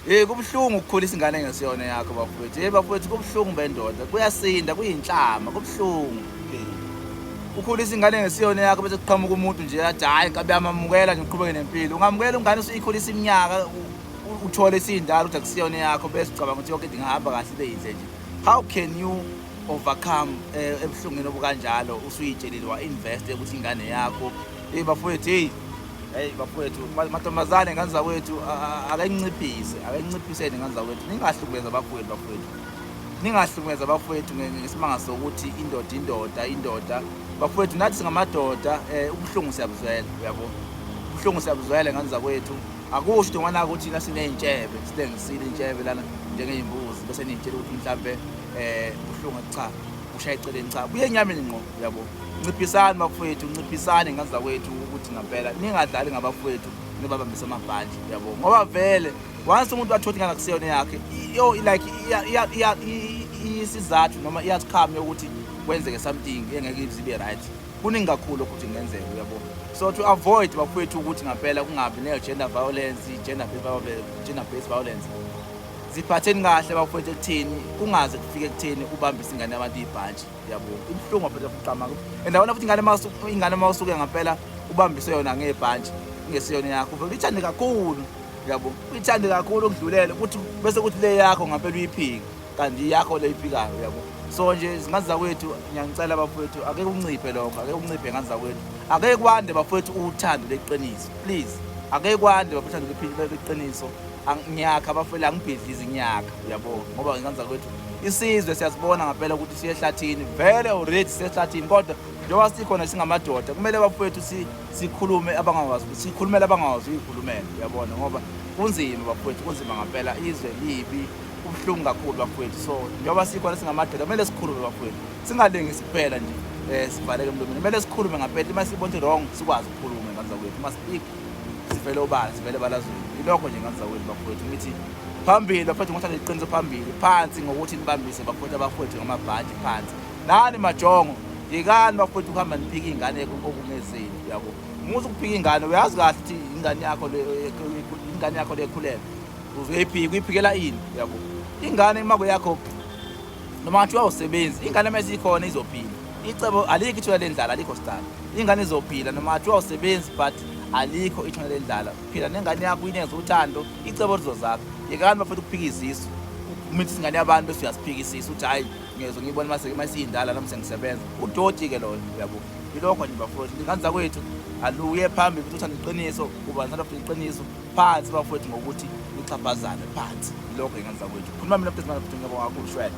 Hey kubuhlungu ukukhulisa ingane ngesiyona yakho bafowethu. Hey bafowethu kubuhlungu bendoda. Kuyasinda kuyinhlama kubuhlungu. Ukhulisa ingane ngesiyona yakho bese kuqhamuka umuntu nje athi hayi kabe amamukela nje uqhubeke nempilo. Ungamukela ungane usuyikhulisa iminyaka uthole isindala ukuthi akusiyona yakho bese ucabanga ukuthi yonke into ingahamba kahle ibe yinhle nje. How can you overcome eh, ebuhlungwini obukanjalo usuyitshelile wa invest ukuthi ingane yakho hey bafowethu hey Hey bafowethu, matomazane ngane zakwethu akayinciphise, akayinciphiseni ngane zakwethu. Ningahlukubeza bafowethu bafowethu. Ningahlukubeza bafowethu ngesimanga sokuthi indoda indoda indoda. Bafowethu nathi singamadoda eh ubuhlungu siyabuzwela, uyabo. Ubuhlungu siyabuzwela ngane zakwethu. Akusho into ngwana ukuthi thina sineyintshebe, silengisile intshebe lana njengeyimbuzi bese niyitshela ukuthi mhlambe eh ubuhlungu cha. ushaya eceleni cha buye enyameni ngqo yabo nciphisani bafowethu nciphisani ngenza kwethu ukuthi ngampela ningadlali ngabafowethu nibabambise amabhandi yabo ngoba vele once umuntu wathothi ngana kuseyona yakhe yo like isizathu noma iyasikhamu yokuthi kwenzeke something engeke ibe right kuningi kakhulu ukuthi kungenzeka uyabo so to avoid bafowethu ukuthi ngampela kungabi ne-gender violence gender based violence ziphatheni kahle bafowethu ekutheni kungaze kufike ekutheni ubambise ingane yabantu ibhantshi yabo ibuhlungu bafowethu fuqamaka and awona futhi ingane masu ingane mawusuke ngempela ubambise yona ngebhantshi ngesiyona yakho futhi ithande kakhulu yabo ithande kakhulu ukudlulele ukuthi bese kuthi le yakho ngempela uyiphike kanti yakho le iphikayo yabo so nje izingane zakwethu ngiyangicela bafowethu ake kunciphe lokho ake kunciphe ngane zakwethu ake kwande bafowethu uthando leqiniso please ake kwande bafowethu uthando leqiniso ngiyakha abafeli angibhidlizi ngiyakha uyabo ngoba ngenzanza kwethu isizwe siyasibona ngampela ukuthi siye ehlathini vele uready siye ehlathini kodwa njengoba sikhona singamadoda kumele bafowethu sikhulume abangakwazi ukuthi sikhulumele abangakwazi uyikhulumela uyabona ngoba kunzima bafowethu kunzima ngampela izwe libi kubuhlungu kakhulu bafowethu so njengoba sikhona singamadoda kumele sikhulume bafowethu singalengisi kuphela nje um sivaleke emlomeni kumele sikhulume ngampela uma sibona ukuthi wrong sikwazi ukukhuluma ngazakwethi uma speak sivele obala sivele balazweni ilokho nje ngazawini bafowethu ngithi phambili bafowethu ngothatha iqiniso phambili phansi ngokuthi nibambise bafowethu abafowethu ngamabhadi phansi nani majongo yekani bafowethu ukuhamba niphika iy'ngane okungezeli uyabo muze ukuphika ingane uyazi kahle ukuthi ingane yakho ingane yakho lekhulele uzoyiphika uyiphikela ini uyabo ingane imako yakho noma ngathiwa awusebenzi ingane uma isikhona izophila icebo alikho ithuba lendlala alikho star ingane izophila noma ngathiwa awusebenzi but alikho ithuba lendlala phila nengane yakho inenza uthando icebo lizozakho yekani bafethu ukuphika izisu umithi isingane yabantu bese uyasiphika isisu uthi hhayi ngezwe ngiyibona mase uma siyindala nami sengisebenza udoti ke loyo uyabo ilokho nje bafowethu ingane zakwethu aluye phambili futhi uthanda iqiniso uba nalo futhi iqiniso phansi bafowethu ngokuthi uxhaphazane phansi lokho ingane zakwethu khuluma mina mfethu ngaphethu ngiyabonga kakhulu shwele